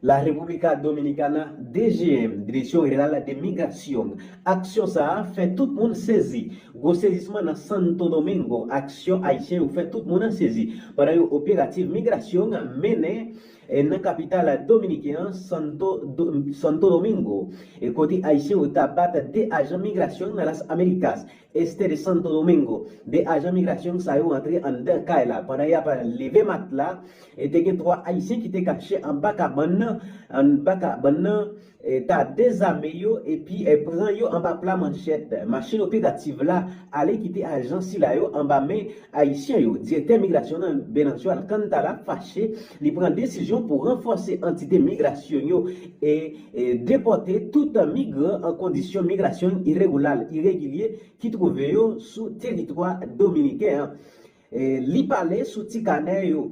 La República Dominicana, DGM, Direksyon General de Migración, Aksyon sa a fè tout moun sezi. Gwo sezisman nan Santo Domingo, Aksyon Ayisyen yo fè tout moun sezi pandan yon operativ migrasyon mennen nan kapital dominiken an, Santo Domingo, kote Ayisyen yo ta bat 2 ajan migrasyon nan Las Américas. Este de Santo Domingo. 2 ajan migrasyon sa yo antre anndan kay la pandan y ap leve matla e te gen 3 ayisyen ki te kache anba kabann nan anba kabann nan ta dezame yo epi pran yo anba pla manchèt. Machin operativ la ale kite ajan sila yo anba men Ayisyen yo, Direktè Migrasyon nan Venancio Alcántara fache, li pran desizyon pou ranfòse antite migrasyon yo e depòte tout migran an kondisyon migrasyon iregulal, iregilye, ki twouve yo sou teritwa dominiken an. Li pale sou ti kanè yo.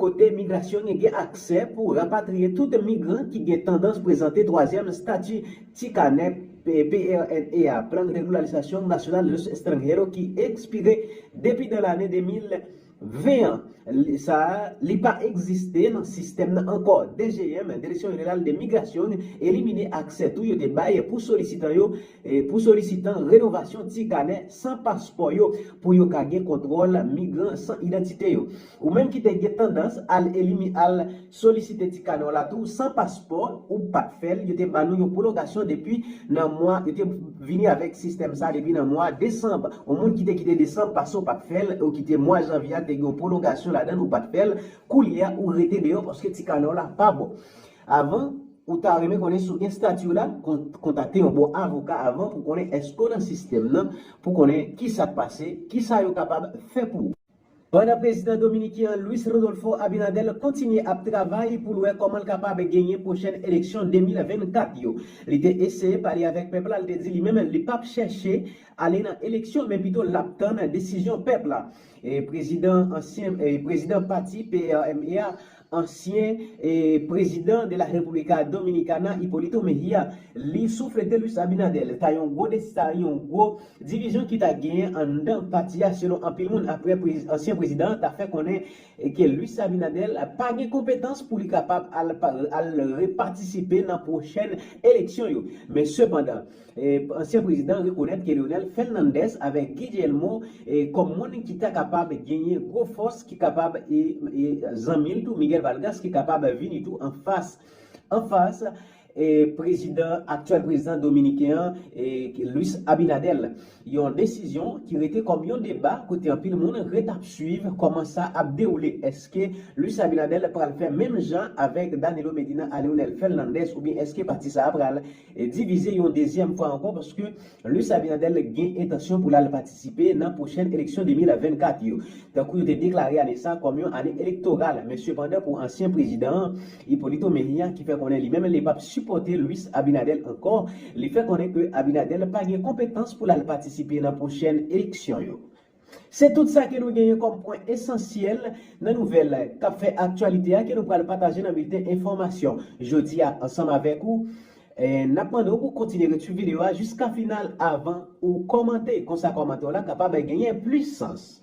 kote migrasyon gen gen aksè pou rapatriye tout migran ki gen tandans prezante twazyèm stati ti kanè PRNE a, Plan Regularizasyon Nasyonal de los Estranhero, ki ekspire depi nan lane 2020 an. Sa a, li pa egziste nan sistèm nan ankò. DGM, Direksyon Jeneral de Migrasyon, elimine aksè tou yo te bay pou solisitan yo, pou solisitan renovasyon ti kanè san paspò yo, pou yo ka gen kontwòl migran san idantite yo. Ou menm ki te gen tandans al elimi al solisite ti kanè w la tou san paspò ou pat fè l yo te ban nou yon pwolongasyon depi nan mwa yo te vini avèk sistèm sa depi nan mwa desanb on moun ki te kite desanb pase w pat fè l ou ki te mwa janvye a te gen yon pwolongasyon ladan l ou pat fè l koulye a ou rete deyò paske ti kanè w la pa bon avan ou ta renmen konnen si w gen stati w la kontakte yon bon avoka avan pou konnen èske w nan sistèm nan pou konnen kisa k pase kisa yo kapab fè pou ou. Pandan prezidan dominiken an Luis Rodolfo Abinader kontinye ap travay pou l wè kòman l kapab genyen pwochèn eleksyon 2024 yo. Li te eseye pale avèk pèp la, li te di li menm li pap chèche ale nan eleksyon men pito l ap tann desizyon pèp la. Prezidan ansyen prezidan pati PRME a, ansyen prezidan de la República Dominicana Hipolito Mejia, li souflete Luis Abinader ta yon gwo des ta yon gwo divizyon ki ta genyen anndan pati a selon anpil moun aprè ansyen prezidan an ta fè konnen ke Luis Abinader pa gen konpetans pou li kapab al al repatisipe nan pwochèn eleksyon yo men sepandan Ansyen prezidan rekonèt ke Leonel Fernandez avèk Guy Guillermo kòm moun ki ta kapab genyen gwo fòs ki kapab e zanmi l tou Miguel Valgas ki kapab vini tou an fas an fas prezidan aktyèl prezidan dominiken an Luis Abinader. Yon desizyon ki rete kòm yon deba kote anpil moun ret ap swiv kòman sa ap dewoule. Eske Luis Abinader pral fè menm jan avèk Danilo Medina a Leonel Fernandez oubyen eske pati sa a pral divize yon dezyèm fwa ankò paske Luis Abinader gen entansyon pou l al patisipe nan pwochèn eleksyon 2024 yo, tankou yo te deklare ane sa kòm yon ane elektoral. Men sepandan pou ansyen prezidan an, Hipolito Mejia ki fè konnen li menm li pap sipòte Luis Abinader ankò, li fè konnen ke Abinader pa gen konpetans pou l al patisipe nan pwochèn eleksyon yo. Se tout sa ke nou genyen kòm pwen esansyèl nan nouvèl kap fè aktyalite a ke nou pral pataje nan bilten enfòmasyon jodi a ansanm avèk ou. Nap mande w pou w kontinye ret swiv videyo a jiska final avan ou kòmante, konsa kòmante w la kapab genyen plis sans.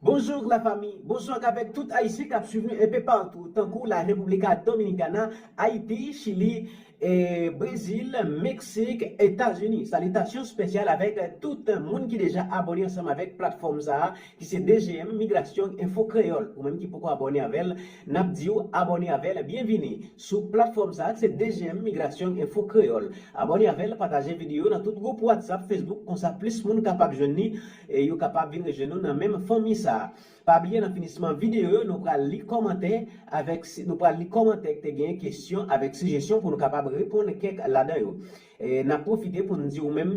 Bonjour la famille, bonsoir avèk tout Ayisyen kap swiv nou enpe partou tankou la República Dominicana, Ayiti, Chili, Brezil, Meksik, Etazini. Salitasyon spesyal avèk tout moun ki deja abòne ansanm avèk platfòm sa a ki se DGM Migrasyon Enfo Kreyòl. Ou menm ki poko abòne avèl, nap diw abòne avèl, byenvini sou platfòm sa a ki se DGM Migrasyon Enfo Kreyòl. Abòne avèl, pataje video nan tout gwoup WhatsApp, Facebook konsa plis moun kapab jwenn li. E yo kapab vin rejwenn nou nan menm fanmi sa. Pa bliye nan finisman videyo yo nou pral li kòmantè avèk nou pral li kòmantè ki te gen kesyon avèk sijesyon pou nou kapab reponn kèk ladan yo. Nap pwofite poun di ou menm.